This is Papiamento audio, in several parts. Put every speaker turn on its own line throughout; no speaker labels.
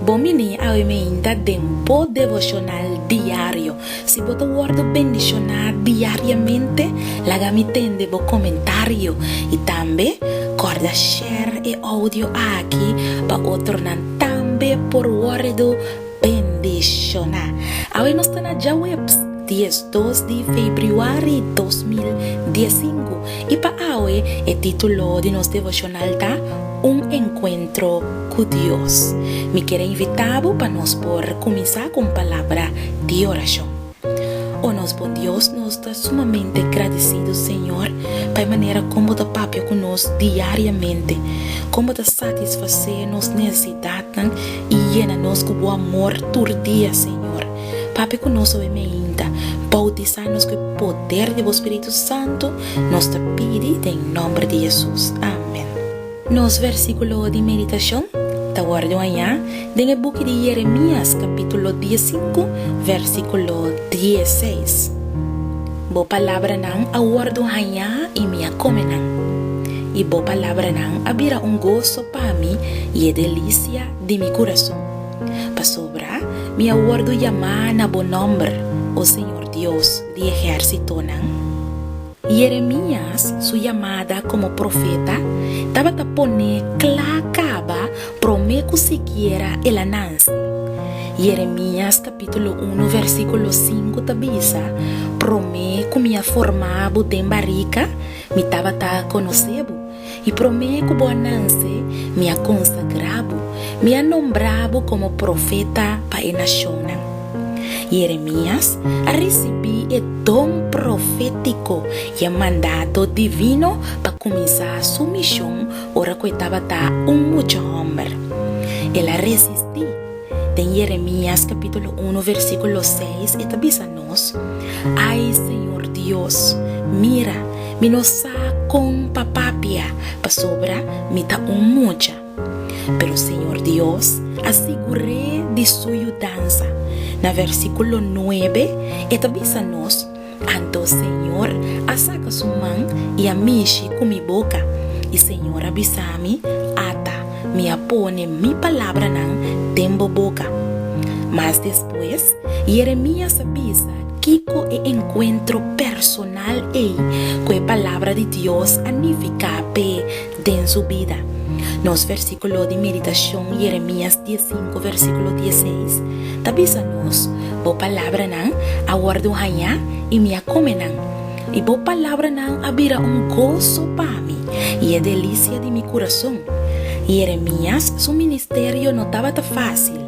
Bo mini awe mainta den bo devoshonal diario. Si bo ta wòrdu bendishoná diariamente, laga mi tende bo komentario i tambe kòrda share e oudio aki pa otronan tambe por wòrdu. bendishoná. Awe nos ta na djaweps diesdos di febriuari dos mil diesinku i pa awe e título di nos devoshonal ta Un enkuentro ku Dios. Mi kere invitá bo pa nos por kuminsá ku un palabra di orashon. O nos bon Dios, nos ta sumamente gradisidu, Señor, pa e manera kon Bo ta papia ku nos diariamente, kon Bo ta satisfasé nos nesesidatnan i yena nos ku Bo amor tur dia, Señor. Papia ku nos oe meinta, boutisá nos ku e poder di Bo Spiritu Santu, nos ta pidi den nomber di Jesus. Amen. Nos versíkulo di meditashon ta wòrdu hañá den e buki di Yeremías kapítulo diesinku, versíkulo dieseis, Bo palabranan a wòrdu hañá i mi a kome nan, i bo palabranan a bira un goso pa mi i e delisia di mi kurason. Pasobra mi a wòrdu yamá na bo nòmber, o Señor Dios di ehérsitonan. Jeremias su yamada komo profeta tabata pone kla kaba promé ku sikiera el a nanse. Jeremias kapítulo unu vèrsikulo sinku ta bisa, Promé ku mi a forma bo den barika, mi tabata konosé bo, I promé ku bo a nase, mi a konsagrá bo, mi a nombrá bo komo profeta pa e nashonnan. Yeremias a risibí e don profétiko i e mandato divino pa kuminsá su mishon ora ku e tabata un mucha hòmber. El a resistí. Den Jeremias capítulo uno versículo seis e ta bisa nos, Ai Señor Dios, mira, mi no sa con pa papia, pasobra mi ta un mucha. Pero Señor Dios a sigur'é di su yudansa. Na versículo nuebe e ta bisa nos, Anto Señor a saca su man y a mishi cu mi boca, y Señor a bisa mi, Ata mi a pone mi palabranan den bo boca. Mas despues, Jeremías a bisa kico e encuentro personal ey cu e Palabra di Dios a nifica p'e. den su bida. Nos versíkulo di meditashon, Yeremías diessinku versíkulo diesseis, ta bisa nos, Bo palabranan a wòrdu hañá i mi a kome nan, i bo palabranan a bira un goso pa mi i e delisia di mi kurason. Yeremías su ministerio no tabata fásil.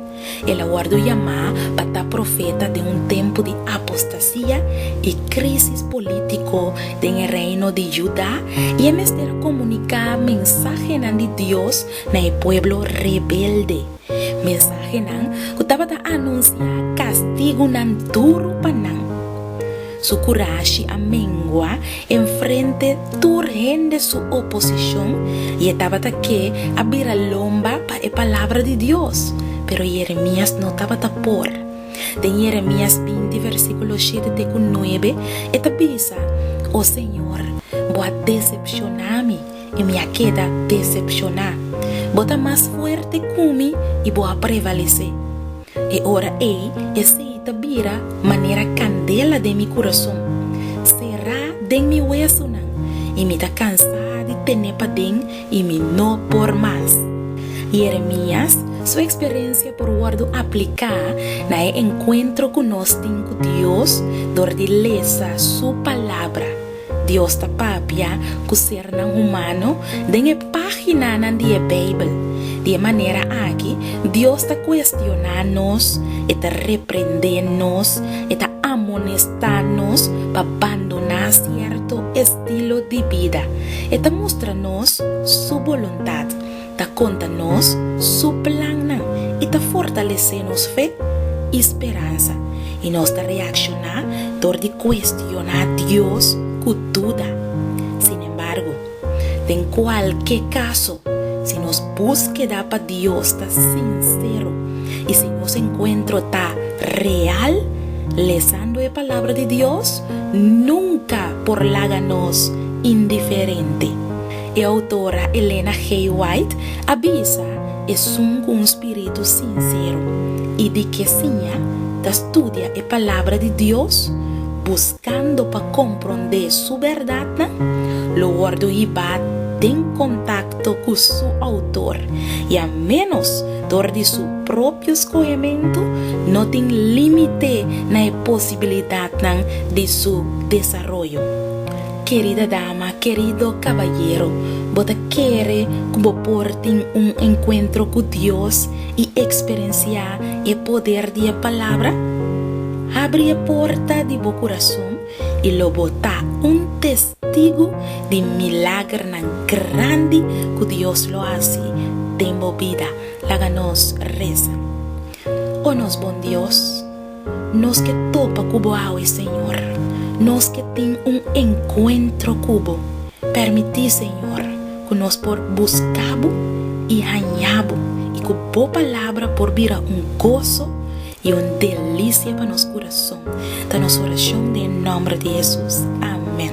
El a wòrdu yamá pa ta profeta den un tempu di apostasia i krísis polítiko den e reino di Judá i e mester a komuniká mensahenan di Dios na e pueblo rebelde, mensahenan ku tabata anunsiá kastigunan duru pa nan. Su kurashi a mengua enfrente tur hende su oposishon i e tabata ke a bira lomba pa e palabra di Dios. Pero Yeremias no tabata por. Den Yeremias binti versíkulo shete te ku nuebe e ta bisa, O Señor, bo a desepshoná mi. I mi a keda desepshoná. Bo ta mas fuerte ku mi i bo a prevalesé. E ora ei esei ta bira manera kandela den mi kurason, será den mi wesunan, i mi ta kansá di tene paden i mi no por mas. Yeremias su eksperensia por wòrdu apliká na e enkuentro ku nos tin ku Dios dor di lesa Su Palabra. Dios ta papia ku sernan humano den e páginanan di e Beibel. Di e manera aki, Dios ta kuestioná nos, e ta reprendé nos, e ta amonestá nos pa bandoná sierto estilo di bida. E ta mustra nos su boluntat. Ta konta nos su plannan i ta fortalesé nos fe i speransa. I nos ta reakshoná dor di kuestioná Dios ku duda. Sinembargo, den kualke kaso, si nos buskeda pa Dios ta sinsero i si nos enkuentro ta real, lesando e Palabra di Dios nunka por laga nos indiferente. E outora Elena G. White a bisa, Esun ku un spiritu sinsero i di ke siña ta studia e Palabra di Dios, buskando pa komprondé su bèrdatnan, lo wòrdu hibá den kontakto ku su Outor i a ménos dor di su propio skohementu no tin límite na e posibilidatnan di su desaroyo. Kerida dama, kerido kabayero, bo ta kere ku bo por tin un enkuentro ku Dios i eksperensiá e poder di e Palabra? Habri e porta di bo kurason i lo bo ta un testigu di milagernan grandi ku Dios lo hasi den bo bida. Laga nos resa. O nos Bon Dios. Nos ke topa ku bo awe, Señor. Nos ke tin un enkuentro ku bo. Permití, Señor, ku nos por buska bo i haña bo, i ku bo palabra por bira un goso i un delisia pa nos kurason. Ta nos orashon den e nòmber di Hesus. Amèn.